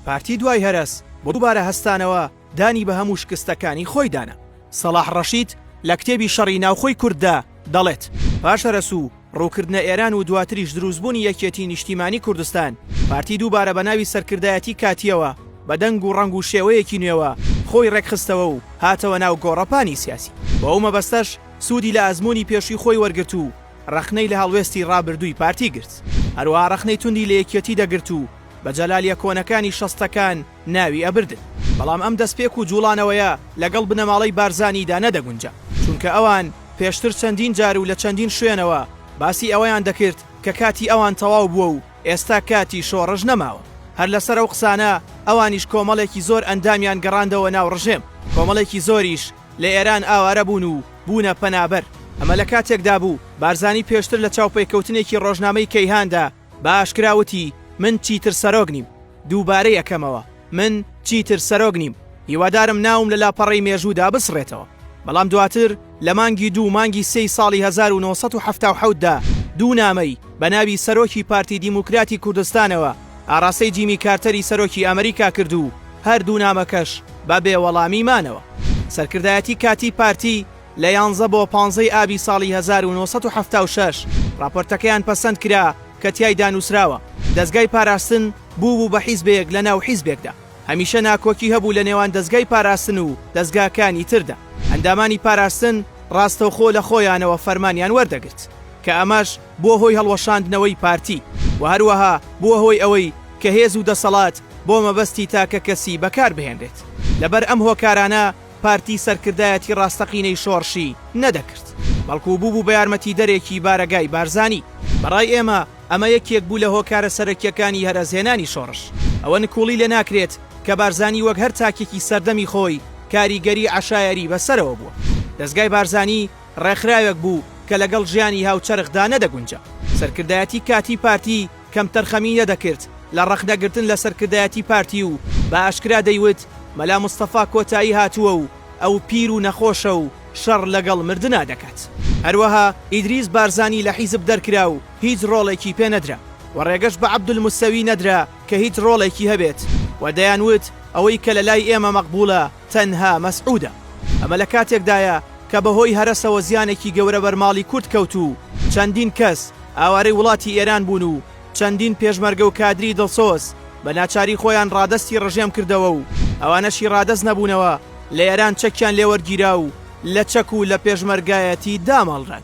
پارتی دوای هەرەس بۆ دووبارە هەستانەوە دانی بە هەموو شکستەکانی خۆیدا نا. سەڵاح ڕەشید لە کتێبی شەڕی ناوخۆی کورددا دەڵێت، پاش هەرەس و ڕووکردنە ئێران و دواتریش دروستبوونی یەکێتی نیشتیمانی کوردستان، پارتی دووبارە بە ناوی سەرکردایەتی کاتییەوە بە دەنگ و ڕەنگ و شێوەیەکی نوێوە خۆی ڕێکخستەوە و هاتەوە ناو گۆڕەپانی سیاسی. بۆ ئەو مەبەستەش سوودی لە ئەزموونی پێشووی خۆی وەرگرت و ڕەخنەی لە هەڵوێستی ڕابردووی پارتی گرت، هەروەها ڕەخنەی توندی لە یەکیەتی دەگرت و بە جەلالیە کۆنەکانی شەستەکان ناوی ئەبردن، بەڵام ئەم دەستپێک و جوڵانەوەیە لەگەڵ بنەماڵەی بارزانیدا نەدەگونجا، چونکە ئەوان پێشتر چەندین جار و لە چەندین شوێنەوە باسی ئەوەیان دەکرد کە کاتی ئەوان تەواو بووە و ئێستا کاتی شۆڕش نەماوە، هەر لەسەر ئەو قسانە ئەوانیش کۆمەڵێکی زۆر ئەندامیان گەڕاندەوە ناو ڕژێم، کۆمەڵێکی زۆریش لە ئێران ئاوارە بوون و بوونە پەنابەر. ئەمە لە کاتێکدا بوو بارزانی پێشتر لە چاوپێکەوتنێکی ڕۆژنامەی کەیهاندا بە ئاشکرا وتی، من چیتر سەرۆک نیم. دووبارەی ئەکەمەوە، من چیتر سەرۆک نیم. هیوادارم ناوم لە لاپەڕەی مێژوودا بسڕێتەوە. بەڵام دواتر لە مانگی دوو مانگی سێی ساڵی هەزار و نۆ سەد و حەفتا و حەوت دا دوو نامەی بە ناوی سەرۆکی پارتی دیموکراتی کوردستانەوە ئاراستەی جیمی کارتەری سەرۆکی ئەمریکا کرد و هەردوو نامەکەش بە بێوەڵامی مانەوە. سەرکردایەتی کاتیی پارتی لە یانزە بۆ پانزە ی ئابی ساڵی هەزار و نۆ سەد و حەفتا و شەش ڕاپۆرتەکەیان پەسەند کرا کە تیایدا نووسراوە دەزگای پاراستن بووبوو بە حیزبێک لە ناو حیزبێکدا. هەمیشە ناکۆکی هەبوو لە نێوان دەزگای پاراستن و دەزگاکانی تردا، ئەندامانی پاراستن ڕاستەوخۆ لە خۆیانەوە فەرمانیان وەردەگرت، کە ئەمەش بووە هۆی هەڵوەشاندنەوەی پارتی و هەروەها بووە هۆی ئەوەی کە هێز و دەسەڵات بۆ مەبەستی تاکە کەسی بەکار بهێنرێت. لەبەر ئەم هۆکارانە پارتی سەرکردایەتی ڕاستەقینەی شۆڕشی نەدەکرد، بەڵکو بووبوو بە یارمەتیدەرێکی بارەگای بارزانی. بەڕای ئێمە ئەمە یەکێک بوو لە هۆکارە سەرەکییەکانی هەرەسهێنانی شۆڕش. ئەوە نکوڵی لێ ناکرێت کە بارزانی وەک هەر تاکێکی سەردەمی خۆی کاریگەری عەشایەری بە سەرەوە بووە. دەزگای بارزانی ڕێکخراوێک بوو کە لەگەڵ ژیانی هاوچەرخدا نەدەگونجا. سەرکردایەتی کاتیی پارتی کەمتەرخەمی نەدەکرد لە ڕەخنەگرتن لە سەرکردایەتی پارتی و بە ئاشکرا دەیوت مەلا مستەفا کۆتایی هاتووە و، ئەو پیر و نەخۆشە و شەڕ لەگەڵ مردنا دەکات. هەروەها ئیدریس بارزانی لە حیزب دەرکرا و هیچ ڕۆڵێکی پێ نەدرا و ڕێگەش بە عەبدولموسەوی نەدرا کە هیچ ڕۆڵێکی هەبێت و دەیان وت ئەوەی کە لە لای ئێمە مەقبووڵە تەنها مەسعودە. ئەمە لە کاتێکدایە کە بە هۆی هەرەسەوە زیانێکی گەورە بەر ماڵی کورد کەوت و چەندین کەس ئاوارەی وڵاتی ئێران بوون و چەندین پێشمەرگە و کادری دڵسۆز بە ناچاری خۆیان ڕادەستی ڕژێم کردەوە و ئەوانەشی ڕادەست نەبوونەوە لە ئێران چەکیان لێ وەرگیرا و لە چەک و لە پێشمەرگایەتی داماڵران.